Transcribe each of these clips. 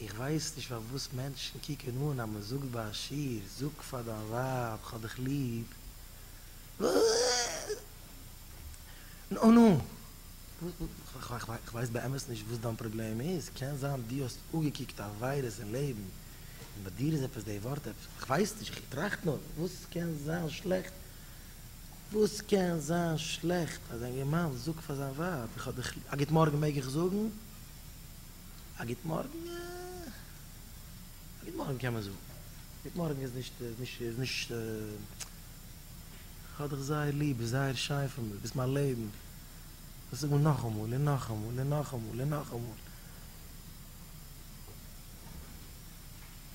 איך ווייס נישט פארוואס מענטשן קוקן אן אז מען זאגט ביי א שיעור, זאג פאר דיין ווייב כ'האב דיך ליב, נו נו, כ'ווייס באמת נישט וואס דיין פראבלעם איז, קען זיין דו האסט אפגעקוקט א וויירוס אין לעבן און ביי דיר איז עפעס די ווארט עפעס, כ'ווייס נישט, איך טראכט נאר, וואס קען זיין שלעכט, וואס קען זיין שלעכט אז א אינגערמאן זאגט פאר זיין ווייב איך האב דיך ליב, א גוט מארגן מעג איך זאגן? א גוט מארגן, א גוט מארגן קען מען זאגן, גוט מארגן איז נישט, איז נישט, איז נישט, כ'האב דיך זייער ליב, ביסט זייער שיין פאר מיר, ביסט מיין לעבן, דאס זאג מען נאכאמאל און נאכאמאל און נאכאמאל און נאכאמאל.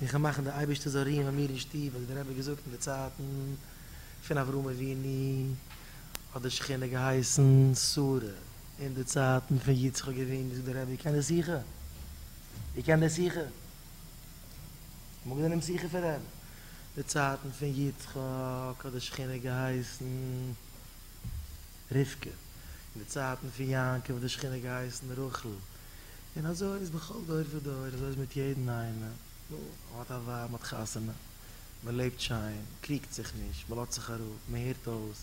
און כ'וועל מאכן דער אייבערשטער זאל רוען ביי מיר אין שטוב, האט דער רבי געזאגט אין די צייטן פון אברהם אבינו, האט די שכינה געהייסן שרה. אין די צייטן פון יצחק אבינו זאגט דער רבי איך קען די שיחה, איך קען די שיחה, מגן און משיחה פון רעב, די צייטן פון יצחק האט די שכינה געהייסן רבקה, אין די צייטן פון יעקב האט די שכינה געהייסן רחל, און אזוי איז בכל דור ודור, אזוי איז מיט יעדן איינעם, נו, מען האט א ווייב, מען האט חתונה, מען לעבט שיין, מען קריגט זיך נישט, מען לאזט זיך אראפ, מען הערט אויס.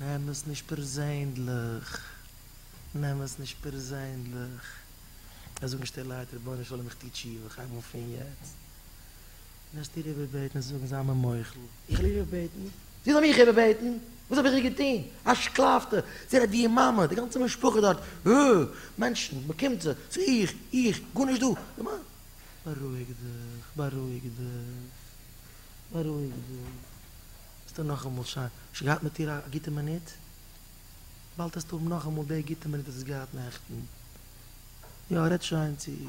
נעם עס נישט פערזענדליך, נעם עס נישט פערזענדליך, וועסט זאגן שטילערהייט רבונו של עולם איך טו תשובה, איך הייב אן פון יעצט, וועסט איר איבערבעטן און זאגן זיי מיר מוחל, איך וויל איבערבעטן, זי זאל מיך איבערבעטן, וואס האב איך איר געטון, א שקלאפטע, זי רעדט ווי איר מאמע, די גאנצע משפחה דארט, אה, מענטשן, מען קומט זיך, ס'איז איך, איך, גארנישט דא, די מאמע. בארואיג דיך, בארואיג דיך, בארואיג דיך. האסטו נאכאמאל שוין געהאט מיט איר א גוטע מינוט? באלד העסטו האבן נאכאמאל די גוטע מינוט וואס האסט געהאט נעכטן. יא, רעד שוין צו איר.